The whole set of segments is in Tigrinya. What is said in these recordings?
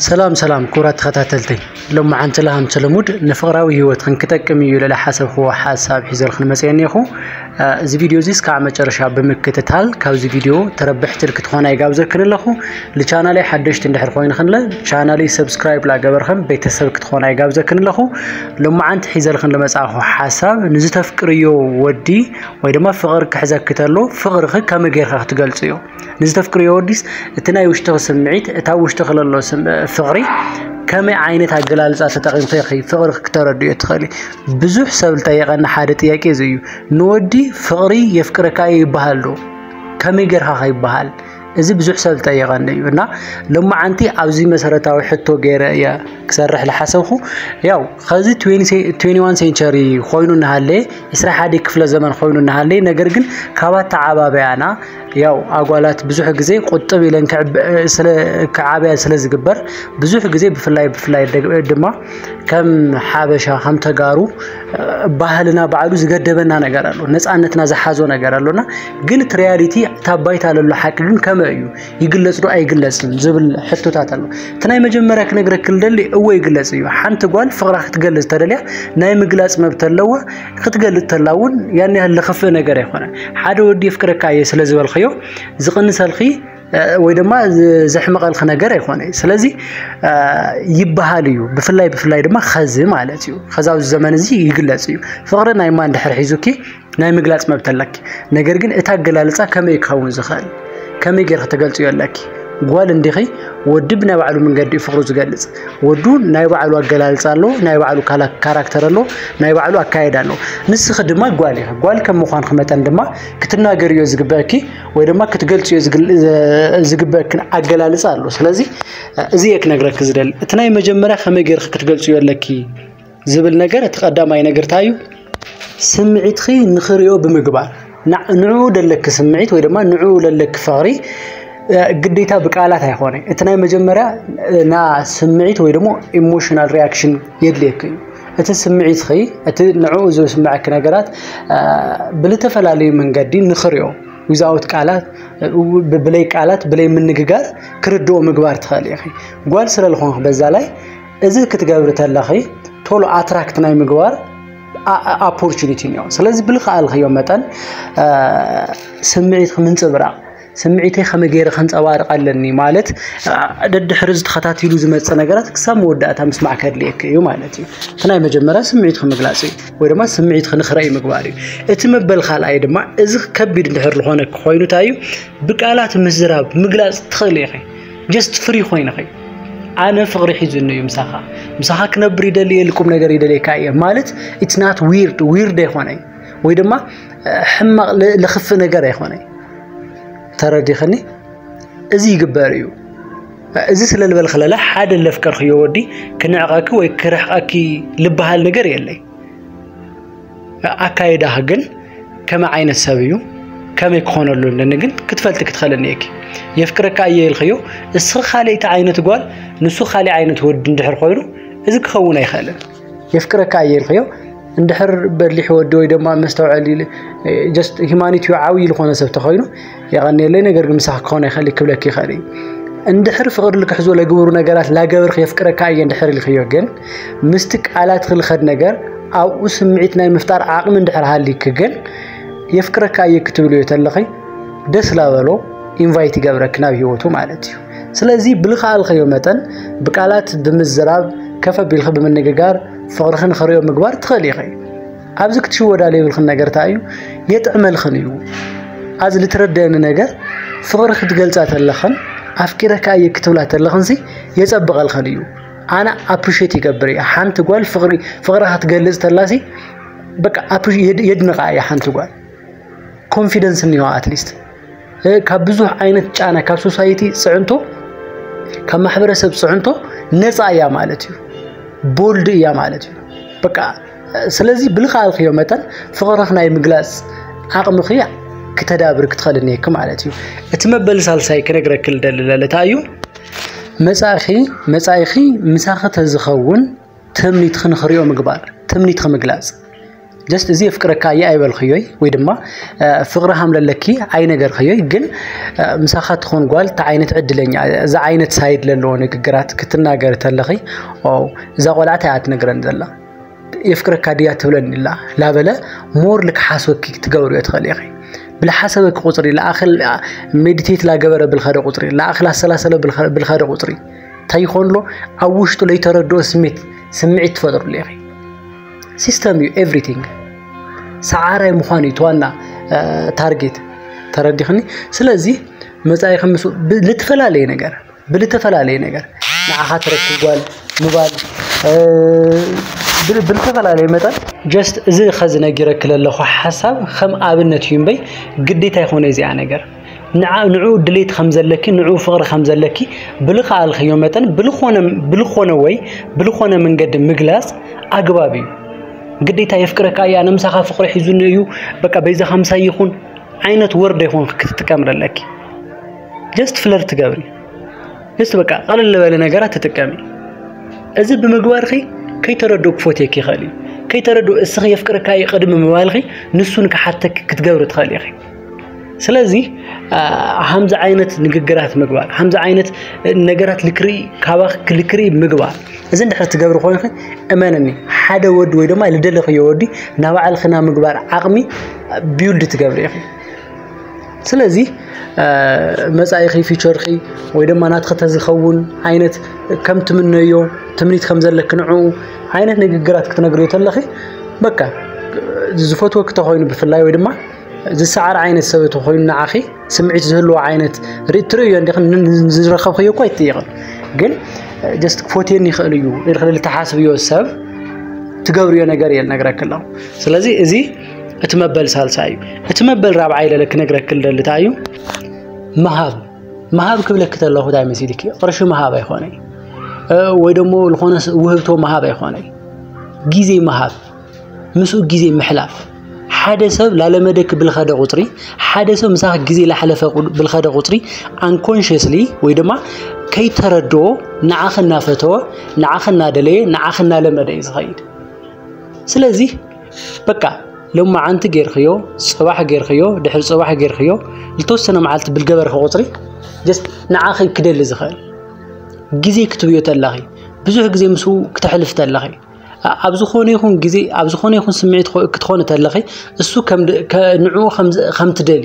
ሰላም ሰላም ክቡራት ተኸታተልተይ ሎመዓንቲ ለሃም ሰለሙድ ንፍቕራዊ ህይወት ክንክጠቅም እዩ ለለ ሓሰብክዎ ሓሳብ ሒዘልክን መፅአ እኒኹ እዚ ቪድዮ እዚ እስካዕ መጨረሻ ብምክትታል ካብዚ ቪድዮ ተረብሕቲ ክትኾና ይጋብዘክን ኣለኹ ልቻናለይ ሓደሽቲ እንድሕር ኮይንክንለ ቻናለይ ሰብስክራይብ ላገበርክን ቤተሰብ ክትኾና ይጋብዘክን ኣለኹ ሎመዓንቲ ሒዘልክን ለመፅኣኹ ሓሳብ ንዝተፍቅርዮ ወዲ ወይ ድማ ፍቕሪ ክሕዘክተሎ ፍቕርኺ ከመይ ጌርካ ክትገልፅ እዩ ንዝተፍቅርዮ ወዲስ እቲ ናይ ውሽጥኺ ስምዒት እታ ውሽጥኺ ለሎ ፍቕሪ ከመይ ዓይነት ኣገላልፃ ተጠቒምኺ ኢኺ ፍቕሪ ክተረድዮ ትኽእሊ ብዙሕ ሰብ ዝጠየቐና ሓደ ጥያቄ እዚ እዩ ንወዲ ፍቕሪ የፍቅረካ እዩ ይበሃል ዶ ከመይ ጌርካ ከይበሃል እዚ ብዙሕ ሰብ ዝጠየቐኒ እዩ እና ሎማዓንቲ ኣብዚ መሰረታዊ ሕቶ ገይረ እየ ክሰርሕ ዝሓሰብኩ ያው ከዚ 21 ሴንቸሪ ኮይኑ እናሃለየ 21 ክፍለ ዘመን ኮይኑ እናሃለየ ነገር ግን ካብ ኣተዓባበያና ያው ኣጓላት ብዙሕ ግዜ ቁጥብ ኢለን ክዓብያ ስለ ዝግበር ብዙሕ ግዜ ብፍላይ ብፍላይ ድማ ከም ሓበሻ ከም ተጋሩ ባህልና ባዕሉ ዝገደበና ነገር ኣሎ ነፃነትና ዝሓዞ ነገር ኣሎና ግን እቲ ሪያሊቲ እታ ባይታ ለሎ ሓቂ ግን ከመ እዩ ይግለፅ ዶ ኣይግለፅን ዝብል ሕቶታት ኣሎ እቲ ናይ መጀመርያ ክነግረክ ልደሊ እወ ይግለፅ እዩ ሓንቲ ጓል ፍቅራ ክትገልፅ ተደልያ ናይ ምግላፅ መብት ኣለዋ ክትገልጽ ተላ እውን ያን ያህል ለኽፍእ ነገር ኣይኮነን ሓደ ወዲ የፍቅረካ እየ ስለ ዝበልክዮ ዝቕንሰልኺ ወይ ድማ ዘሕምቐልኪ ነገር ኣይኮነ ስለዚ ይበሃል እዩ ብፍላይ ብፍላይ ድማ ኸዚ ማለት እዩ ኸዛብዚ ዘመን እዚ ይግለጽ እዩ ፍቕሪ ናይ ማን ድሕር ሒዙኪ ናይ ምግላጽ መብት ኣለኪ ነገር ግን እቲ ኣገላልጻ ከመይ ክኸውን ዝኽእል ከመይ ጌርኪ ተገልጽዮ ኣለኪ ጓል እንዲኺ ወዲ ብናይ ባዕሉ መንገዲ ፍቅሩ ዝገልጽ ወዱ ናይ ባዕሉ ኣገላልጻ ኣሎ ናይ ባዕሉ ካራክተር ኣሎ ናይ ባዕሉ ኣካየዳ ኣሎ ንስኺ ድማ ጓል ኢኺ ጓል ከም ምዃንኪ መጠን ድማ ክትናገርዮ ዝግበእኪ ወይ ድማ ክትገልጽዮ ዝግበእክን ኣገላልጻ ኣሎ ስለዚ እዚ እየ ክነግረኪ ዝደሊ እቲ ናይ መጀመርያ ከመይ ጌርኪ ክትገልጽዮ ኣለኪ ዝብል ነገር እቲ ቀዳማይ ነገር እንታይ እዩ? ስምዒትኺ ንኽሪኦ ብምግባር ንዕኡ ደለኪ ስምዒት ወይ ድማ ንዕኡ ለለኪ ፍቕሪ ግዴታ ብቃላት ኣይኾነ እቲ ናይ መጀመርያ ና ስምዒት ወይ ደሞ ኢሞሽናል ሪያክሽን የድልየኪ እዩ እቲ ስምዒትኺ እቲ ንዕኡ ዝስምዐኪ ነገራት ብልተፈላለዩ መንገዲ ንኽሪኦ ዊዛውት ቃላት ብለይ ቃላት ብለይ ምንግጋር ክርድኦ ምግባር ትኽእል ኢኺ ጓል ስለ ዝኾንክ በዛ ላይ እዚ ክትገብሪ ተለኺ ቶሎ ኣትራክት ናይ ምግባር ኣፖርቹኒቲ እኒኦ ስለዚ ብልክኣልክዮ መጠን ስምዒትክ ምንፅብራቕ ስምዒተይ ከመይ ገይረ ከንፀባርቕ ኣለኒ ማለት ደድሕሪ ዝተኸታቲሉ ዝመፅእ ነገራት ክሳብ መወዳእታ ምስማዕ ከድልየክ እዩ ማለት እዩ እቲ ናይ መጀመርያ ስምዒት ክምግላፅ እዩ ወይ ድማ ስምዒት ክንክረእዩ ምግባር እዩ እቲ መበል ካልኣይ ድማ እዚ ከቢድ እንድሕር ዝኾነ ክኾይኑ እንታይ እዩ ብቃላት ምዝራብ ምግላፅ ትኽእል ኢኺ ጀስት ፍሪ ኮይንኺ ኣነ ፍቕሪ ሒዙኒ እዩ ምሳኻ ምሳኻ ክነብር ይደሊ እየ ልቁም ነገር ይደልየካ እየ ማለት ኢትስ ናት ዊርድ ዊርድ ኣይኮነ እዩ ወይ ድማ ሕማቕ ልኽፍ ነገር ኣይኮነ እዩ ተረዲኽኒ እዚ ይግበር እዩ እዚ ስለ ዝበልክለለ ሓደ ለፍቀርክዮ ወዲ ክንዕቐኪ ወይ ክርሕቐኪ ልበሃል ነገር የለይ ኣካይዳህ ግን ከመይ ዓይነት ሰብ እዩ ከመይ ክኾነ ኣሎ ኣለኒ ግን ክትፈልጢ ክትኸለኒ እየኪ የፍቅረካ እየ ኢልክዮ እስኺ ካልእቲ ዓይነት ጓል ንሱ ካልእ ዓይነት ወዲ እንድሕር ኮይኑ እዚ ክኸውን ኣይኽእልን የፍቅረካ እየ ኢልክዮ እንድሕር በሊሕ ወዲ ወይ ድማ መስተውዐሊ ጀስት ሂማኒትዮ ዓብዪ ዝኾነ ሰብ ተኾይኑ የቐንየለይ ነገር ግን ምሳኽ ክኾነ ይኽእል እዩ ክብለኪ ይኽእል እዩ እንድሕር ፍቕሪ ልክሕዞ ለግብሩ ነገራት ላገብርክ የፍቅረካ እየ እንድሕር ኢልክዮ ግን ምስቲ ቃላት ክልኸድ ነገር ኣብኡ ስምዒት ናይ ምፍጣር ዓቕሚ እንድሕር ሃሊክ ግን የፍቅረካ እየ ክትብልዮ ተለኺ ደስ ላበሎ ኢንቫይት ይገብረክ ናብ ህይወቱ ማለት እዩ ስለዚ ብልኸኣልኸዮ መጠን ብቃላት ብምዝራብ ከፈ ቢልኺ ብምንግጋር ፍቕርኺ ንኽሪኦ ምግባር ትኽእል ኢኺ ኣብዚ ክትሽወዳ ዘይብልክን ነገር እንታይ እዩ የጥዕመልክን እዩ ኣዚ ልትረደኒ ነገር ፍቕሪ ክትገልጻ ተለኽን ኣፍቂረካ እየ ክትብላ ተለኽንሲ የጸብቐልክን እዩ ኣነ ኣፕሪሼት ይገብር እየ ሓንቲ ጓል ፍቕሪ ፍቕራ ክትገልጽ ተላሲ በቃ የድንቓ እየ ሓንቲ ጓል ኮንፊደንስ እኒዋ ኣትሊስት ካብ ብዙሕ ዓይነት ጫና ካብ ሶሳይቲ ፅዕንቶ ካብ ማሕበረሰብ ፅዕንቶ ነፃ እያ ማለት እዩ ቦልድ እያ ማለት እዩ በቃ ስለዚ ብልኻልክዮ መጠን ፍቕርኽ ናይ ምግላጽ ዓቕምኺ ክተዳብር ክትኸእል እኒሄኪ ማለት እዩ እቲ መበል ሳልሳይ ክነግረኪ ልደሊ ለለታ እዩ መጻእኺ መጻኢኺ ምሳኺ ተዝኸውን ትምኒትኺ ንኽሪኦ ምግባር ትምኒትኺ ምግላጽ ጀስት እዚ የፍቅረካ እየ ኣይበልክዮይ ወይ ድማ ፍቕሪ ሃምለለኪ ኣይነገርክዮይ ግን ምሳኻ ትኾን ጓል እቲ ዓይነት ዕድለኛ እዚ ዓይነት ሳይድ ዘለዎ ንግግራት ክትናገር ተለኺ እዛ ቆልዓት እያ ትነግረን ዘላ የፍቅረካ ድያ ትብለኒ ኣላ ላበለ ሞር ልክሓስበኪ ክትገብርዮ ትኽእል ኢኺ ብልሓሰበኪ ቁፅሪ ልኣኽል ሜዲቴት ላገበረ ብልኸደ ቁፅሪ ልኣኽል ኣሰላሰለ ብልኸደ ቁፅሪ እንታይ ይኾን ኣሎ ኣብ ውሽጡ ለይተረድኦ ስሜት ስምዒት ትፈጥርሉ ኢኺ ሲስተም እዩ ኤቭሪቲንግ ሰዓራይ ምዃን እዩ ተዋና ታርጌት ተረዲኽኒ ስለዚ መፃኢኺ ምስ ልትፈላለየ ነገር ብልተፈላለየ ነገር ንዓኻ ትረክብ ጓል ምባል ብልተፈላለየ መጠን ጀስት እዚ ኸዚ ነጊረኪ ዘለኹ ሓሳብ ከም ኣብነት እዩ እምበይ ግዴታ ይኾነ እዚኣ ነገር ንዑ ድሌት ከም ዘለኪ ንዑ ፍቕሪ ከም ዘለኪ ብልኸኣልክዮ መጠን ብልኾነ ወይ ብልኾነ መንገዲ ምግላፅ ኣግባብ እዩ ግዴታ የፍቅረካ እዩ ኣነ ምሳኻ ፍቕሪ ሒዙኒ እዩ በቃ በይዛኻ ምሳይ ይኹን ዓይነት ወርድ ይኹን ክትጥቀም ዘለኪ ጀስት ፍለርት ትገብሪ ጀስት በቃ ቀለል ዝበለ ነገራት ትጥቀሚ እዚ ብምግባርኺ ከይተረድኡ ክፎትየኪ ይኽእል እዩ ከይተረድኡ እስኺ የፍቅርካ እዩ ቅድሚ ምባልኺ ንሱ ንክሓተኪ ክትገብሪ ትኽእል ኢኺ ስለዚ ከምዚ ዓይነት ንግግራት ምግባር ከምዚ ዓይነት ነገራት ልክርኢ ካባኺ ክልክርኢ ምግባር እዚ እንድሕር ትገብሪ ኮይንኺ እመንኒ ሓደ ወዲ ወይ ድማ ልደለኽዮ ወዲ ናባዕልኽና ምግባር ዓቕሚ ቢውልድ ትገብሪ ኢኺ ስለዚ መጻኢኺ ፊቸርኺ ወይ ድማ ናትኺ ተዝኸውን ዓይነት ከም ትምነዮ ትምኒት ከም ዘለኪ ንዕኡ ዓይነት ንግግራት ክትነግርዮ ተለኺ በቃ ዝፈትወኪ ተኾይኑ ብፍላይ ወይ ድማ ዝሰዓር ዓይነት ሰብ ተኾይኑ ንዓኺ ስምዒት ዝህልዎ ዓይነት ርትርእዮ እንዲኺ ዝረኸብክዮ እኳ ይትይቕን ግን ጀስት ክፎትየኒ ይኽእል እዩ ኢልክልል ተሓስብዮ ሰብ ትገብርዮ ነገር እየ ነግረኪ ኣለኹ ስለዚ እዚ እቲ መበል ሳልሳይ እዩ እቲ መበል ራብዓይ ለለ ክነግረክ ልደሊ እንታይ እዩ ምሃብ ምሃብ ክብለክ ተለኹ እንታይ መሲልኪ ቅርሺ ምሃብ ኣይኮነይ ወይ ደሞ ዝኾነ ውህብቶ ምሃብ ኣይኮነይ ጊዜ ምሃብ ምስኡ ጊዜ ምሕላፍ ሓደ ሰብ ላለመደክ ብልኸደ ቁፅሪ ሓደ ሰብ ምሳኽ ጊዜ ላሕለፈ ብልኸደ ቁፅሪ ኣንኮንሽስሊ ወይ ድማ ከይተረድኦ ንዓኽ እናፈተወ ንዓኽ እናደለየ ንዓኽ እናለመደ እዩ ዝኸይድ ስለዚህ በቃ ሎማዓንቲ ጌርክዮ ጽባሕ ጌርክዮ ድሕሪ ጽባሕ ጌርክዮ ዝተወሰነ መዓልቲ ብልገበርኺ ቁጽሪ ጀስት ንዓኺ ክደሊ ዝኽእል ግዜ ክትብዮ ተለኺ ብዙሕ ግዜ ምስኡ ክተሕልፍ ተለኺ ኣብ ዝኾነ ይኹን ግዜ ኣብ ዝኾነ ይኹን ስምዒት ክትኾኒ ተለኺ እሱ ንዕኡ ከምትደሊ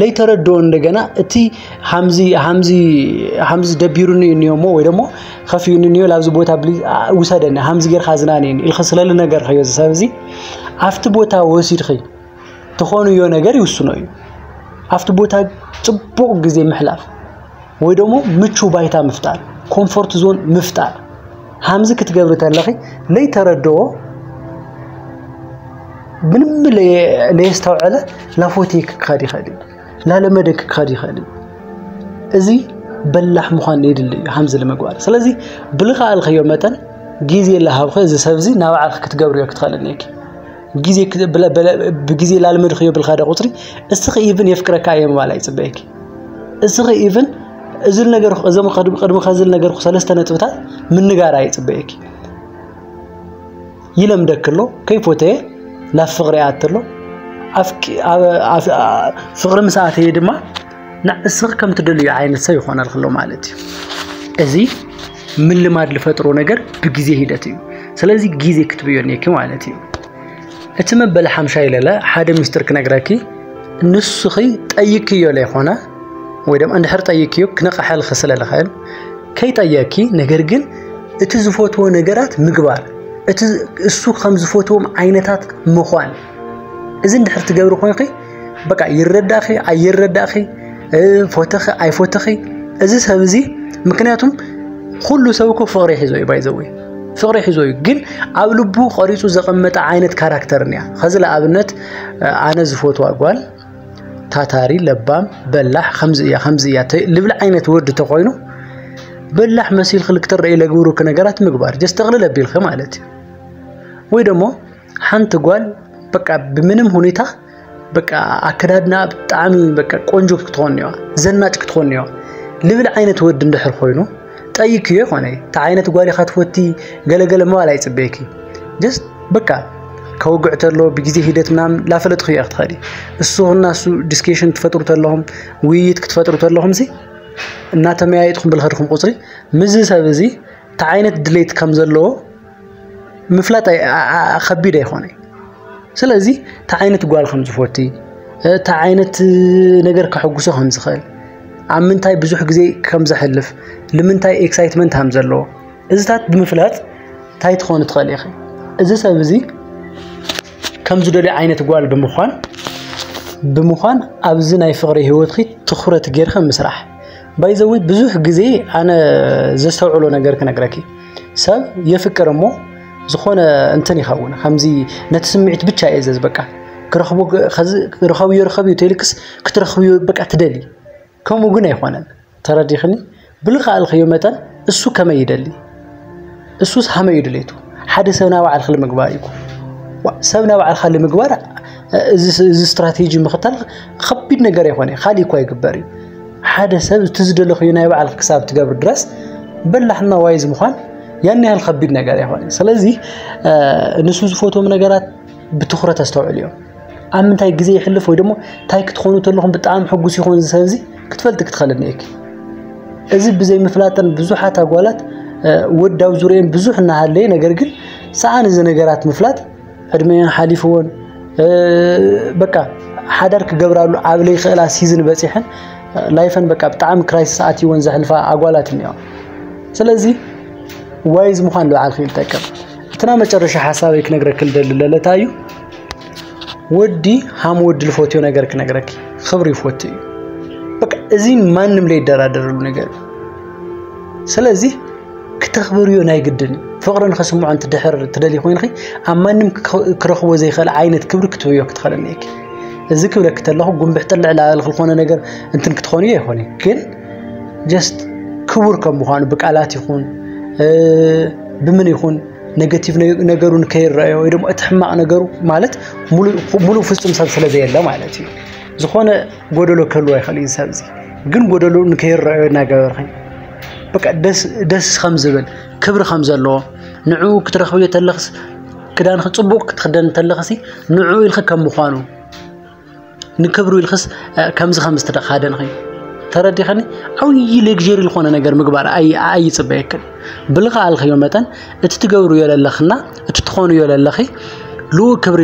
ለይተረድኦ እንደገና እቲ ሃምዚ ሃምዚ ሃምዚ ደቢሩኒ እኒዮ እሞ ወይ ደሞ ከፍዩኒ እኒዮ ላብዚ ቦታ ብሊ ውሰደኒ ሃምዚ ጌርካ ዝናንየኒ ኢልኺ ስለሊ ነገር ከዮ እዚ ሰብ እዚ ኣብቲ ቦታ ወሲድኺ ትኾኑዮ ነገር ይውስኖ እዩ ኣብቲ ቦታ ፅቡቕ ግዜ ምሕላፍ ወይ ደሞ ምቹ ባይታ ምፍጣር ኮምፎርት ዞን ምፍጣር ሃምዚ ክትገብሪ ተለኺ ለይተረድኦ ምንም ለየስተውዐለ ላፎትይክ ክኸድ ይኸእል እዩ ላለመደክ ክኸድ ይኸእል እዩ እዚ በላሕ ምዃን የድሊ እዩ ሃምዚ ንምግባር ስለዚ ብልኸኣልኸዮ መጠን ግዜ ላሃብኸ እዚ ሰብዚ ናብ ዓልኺ ክትገብርዮ ክትኸእልን እየኪ ብግዜ ላልመድኸዮ ብልካደ ቁፅሪ እስኺ ኢብን የፍቅረካ እየ ምባል ኣይፅበየኪ እስኺ ኢቭን እዚ ነገር እዞም ቅድሚ ከዚ ነገርኩ ሰለስተ ነጥብታት ምንጋር ኣይፅበየኪ ይለምደክ ኣሎ ከይፎተየ ናብ ፍቅሪ ይኣት ኣሎ ፍቅሪ ምስ ኣተየ ድማ ንእስኺ ከም ትደልዩ ዓይነት ሰብ ይኾነልክ ኣሎ ማለት እዩ እዚ ምልማድ ዝፈጥሮ ነገር ብግዜ ሂደት እዩ ስለዚ ግዜ ክትብዮ እኒአኪ ማለት እዩ እቲ መበል ሓምሻይ ለለ ሓደ ሚስጥር ክነግረኪ ንስኺ ጠይክዮ ለይኮነ ወይ ድማ እንድሕር ጠይክዮ ክነቕሐልኺ ስለ ልኽእል ከይጠየኪ ነገር ግን እቲ ዝፈትዎ ነገራት ምግባር እቲ እሱ ከም ዝፈትዎም ዓይነታት ምዃን እዚ እንድሕር ትገብሪ ኮንኺ በቃ ይረዳኺ ኣይረዳኺ ፎተኺ ኣይፎተኺ እዚ ሰብ እዚ ምክንያቱም ኩሉ ሰብ እኮ ፍቅሪ ሒዞ እዩ ባይዘወይ ፍቅሪ ሒዞ እዩ ግን ኣብ ልቡ ቀሪፁ ዘቐመጠ ዓይነት ካራክተር እያ ከዚ ንኣብነት ኣነ ዝፈትዋ ጓል ታታሪ ለባም በላሕ ከምዚ እያ ከምዚ እያ ልብል ዓይነት ወዲ ተኮይኑ በላሕ መሲልክ ልክትረኢ ለግብሩክ ነገራት ምግባር ጀስ ጠቅልል ኣቢልክ ማለት እዩ ወይ ደሞ ሓንቲ ጓል በቃ ብምንም ሁኔታ በቃ ኣከዳድና ብጣዕሚ በቃ ቆንጆ ክትኾን እኒዋ ዘናጭ ክትኾን እኒዋ ልብል ዓይነት ወዲ እንድሕር ኮይኑ ጠይክዮ ይኾነ እቲ ዓይነት ጓል ኢኻ ትፈቲ ገለገለ ምባል ኣይፅበየኪ ጀስት በቃ ከውግዕ ተሎ ብግዜ ሂደት ምናምን ላፈለጥኹ እየ ክትኸዲ እሱ እና እሱ ዲስኬሽን ትፈጥሩ ተለኹም ውይይት ክትፈጥሩ ተለኹም ሲ እናተመያየጥኹም ብልኸድኹም ቁፅሪ ምዚ ሰብ እዚ እቲ ዓይነት ድሌት ከም ዘለዎ ምፍላጥ ከቢድ ኣይኮነ ስለዚ እንታይ ዓይነት ጓል ከም ዝፈቲ እንታይ ዓይነት ነገር ከሐጉሶ ከም ዝኽእል ኣብ ምንታይ ብዙሕ ግዜ ከም ዘሕልፍ ንምንታይ ኤክሳይትመንት ከም ዘለዎ እዚታት ብምፍላጥ እንታይ ትኾኑ ትኽእል ኢኺ እዚ ሰብ እዚ ከም ዝደልዮ ዓይነት ጓል ብምዃን ብምዃን ኣብዚ ናይ ፍቕሪ ህይወትኺ ትኹረት ጌርኺ ምስራሕ ባይዘወይ ብዙሕ ግዜ ኣነ ዘስተውዕሎ ነገር ክነግረኪ ሰብ የፍቅር እሞ ዝኾነ እንትን ይኸውን ከምዚ ነቲ ስምዒት ብቻ እየ ዘዝ በቃ ክረኽቦ ርኸብዮ ርኸብዮ ተልክስ ክትረኽብዮ በቃ ትደሊ ከምኡ ግን ኣይኮነን ተረዲኽኒ ብልኸኣልኸዮ መጠን እሱ ከመይ ይደሊ እሱስ ሃመዩ ድሌቱ ሓደ ሰብ ናብ ባዕልክ ልምግባር እዩ ሰብ ናብ ባዕልካ ልምግባር እዚ ስትራቴጂ ምኽታል ከቢድ ነገር ኣይኮነ ካሊእ እኳ ይግበር እዩ ሓደ ሰብ እቲ ዝደለኽዩ ናይ ባዕልክ ክሳብ ትገብር ድረስ በላሕና ዋይዝ ምዃን ያን ያህል ከቢድ ነገር ኣይኮነን። ስለዚ ንሱ ዝፈትዎም ነገራት ብትኹረት ኣስተውዕል እዮም ኣብ ምንታይ ግዜ ይሕልፍ ወይ ደሞ እንታይ ክትኾኑ ተለኹም ብጣዕሚ ሕጉስ ይኾን እዚ ሰብዚ ክትፈልጢ ክትኸለኒ እየኪ እዚ ብዘይ ምፍላጠን ብዙሓት ኣጓላት ወዳው ዙርየን ብዙሕ እናሃለየ ነገር ግን ሰኣን እዚ ነገራት ምፍላጥ ዕድመኣን ሓሊፍዎን በቃ ሓዳር ክገብራሉ ኣብ ለይክእላ ሲዝን በፂሐን ላይፈን በቃ ብጣዕሚ ክራይሲስ ኣትይወን ዘሕልፋ ኣጓላት እኒኦ ስለዚ ዋይዝ ምዃን ልበዓልክ ይጠቅም እትና መጨረሻ ሓሳበይ ክነግረክ ልደሊ ለለታ እዩ ወዲ ሃም ወዲ ልፈትዮ ነገር ክነግረክ ክብሪ ይፈቱ እዩ በቃ እዚ ማንም ለይደራደረሉ ነገር እዩ ስለዚህ ክተኽብርዮ ናይ ግድን እዩ። ፍቕሪ ንኸስምዖ እንትድሕር ትደልይ ኮይንኺ ኣብ ማንም ክረኽቦ ዘይኽእል ዓይነት ክብሪ ክትብዮ ክትኽእል እኒኤኪ። እዚ ክብለኪ ተለኹ ጉንብሕ ጥልዕ ላበልኺ ዝኾነ ነገር እንትን ክትኾንዮ ይኾን እዩ ግን ጀስት ክቡር ከም ምዃኑ ብቃላት ይኹን ብምን ይኹን ኔጌቲቭ ነገሩ ንከይረአዮ ወይ ደግሞ እቲ ሕማቕ ነገሩ ማለት ሙሉእ ፍፁም ሰብ ስለ ዘየለ ማለት እዩ ዝኾነ ጎደሎ ክህልዎ ይኽእል እዩ ሰብ እዚ ግን ጎደሎ ንከይረኣዮ እናገበርኸኝ በቃ ደስ ደስ ከም ዝብል ክብሪ ከም ዘለዎ ንዕኡ ክትረኽብዮ ተለኽስ ክዳንኺ ፅቡቕ ክትኽደን ተለኽሲ ንዕኡ ኢልኺ ከም ምዃኑ ንክብሩ ኢልክስ ከምዚ ከም ዝተደኻደንኺ ተረዲኸኒ ዓብዪ ሌግጀሪ ዝኾነ ነገር ምግባር ኣይፅበየክን ብልኽኣልኽዮ መጠን እቲ ትገብርዮ ዘለኽና እቲ ትኾንዮ ለለኺ ልኡ ክብሪ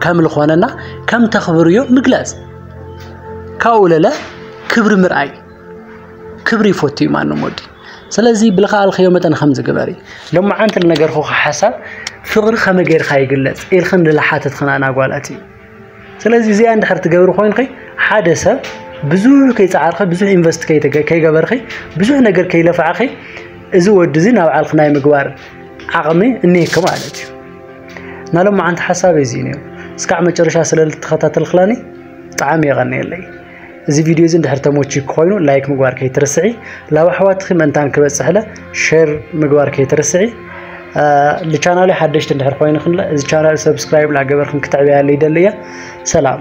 ከም ዝኾነና ከም ተኽብርዮ ምግላጽ ካብኡ ለለ ክብሪ ምርኣይ ክብሪ ይፈቱ እዩ ማንም ወዲ ስለዚ ብልኸኣልክዮ መጠን ከም ዝግበሪ ሎመዓንቲ ልነገርኹ ሓሳብ ፍቕሪ ከመይ ጌርካ ይግለጽ ኢልክን ልሓተትክን ኣናጓላት እዩ ስለዚ እዚኣ እንድሕር ትገብሪ ኮይንኺ ሓደ ሰብ ብዙሕ ከይፀዓርኺ ብዙሕ ኢንቨስት ከይገበርኺ ብዙሕ ነገር ከይለፋዕኺ እዚ ወዲ እዚ ናብ ዓልኺ ናይ ምግባር ዓቕሚ እኒሄኪ ማለት እዩ ናይ ሎማዓንቲ ሓሳበይ እዚ እዩ እስካዕ መጨረሻ ስለልተኸታተልክላኒ ብጣዕሚ የቐንየለይ እዚ ቪድዮ እዚ እንድሕር ተመችዩ ኮይኑ ላይክ ምግባር ከይትርስዒ ላብ ኣሕዋትኺ መንታን ክበፅሕለ ሸር ምግባር ከይትርስዒ ልቻናሊ ሓደሽቲ እንድሕር ኮይንክን እዚ ቻናል ሰብስክራይብ ላገበርክን ክትዕበያለ ይደሊ እየ ሰላም